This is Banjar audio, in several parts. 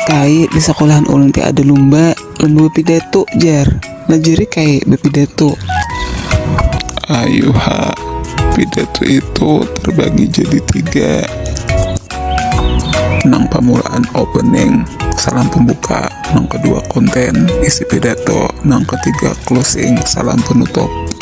Kai di sekolahan ulun ti ada lumba, lumba bepidato jar. Nah jari kai bepidato. Ayu ha, pidato itu terbagi jadi tiga. Nang pamulaan opening, salam pembuka, nang kedua konten, isi pidato, nang ketiga closing, salam penutup.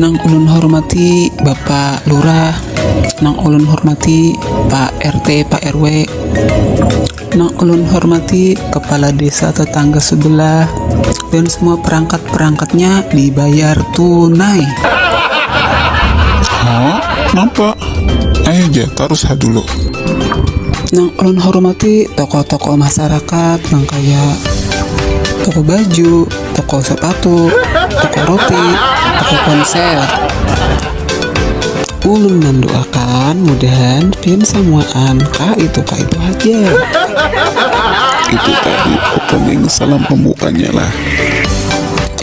Nang ulun hormati Bapak Lurah, nang ulun hormati Pak RT, Pak RW, nang ulun hormati kepala desa tetangga sebelah, dan semua perangkat-perangkatnya dibayar tunai. Hah? Napa? Ayo ja, tarus ha dulu. Nang ulun hormati tokoh-tokoh masyarakat nang kaya toko baju, toko sepatu, toko roti, toko ponsel. Ulun mendoakan mudahan pin samuaan ka itu ka itu aja. Itu tadi opening salam pembukaannya lah.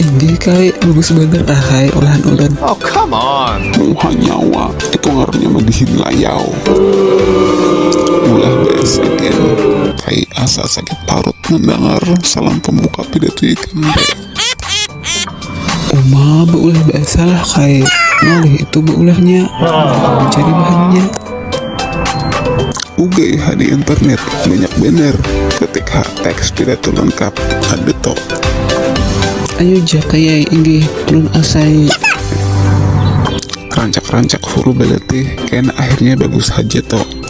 Ini kai bagus banget ahai olahan ulun. Oh come on. Muha nyawa itu ngarannya madihin layau. Ulah BSN. Kai asa sakit parut mendengar salam pembuka Tidak tuh ikan Uma beulah basalah kai ngalih itu beulahnya mencari bahannya Ugai ha di internet banyak bener ketik ha teks tidak tuh lengkap ada toh Ayo jah kayai inggih lun asai rancak-rancak huru beletih kena akhirnya bagus haja toh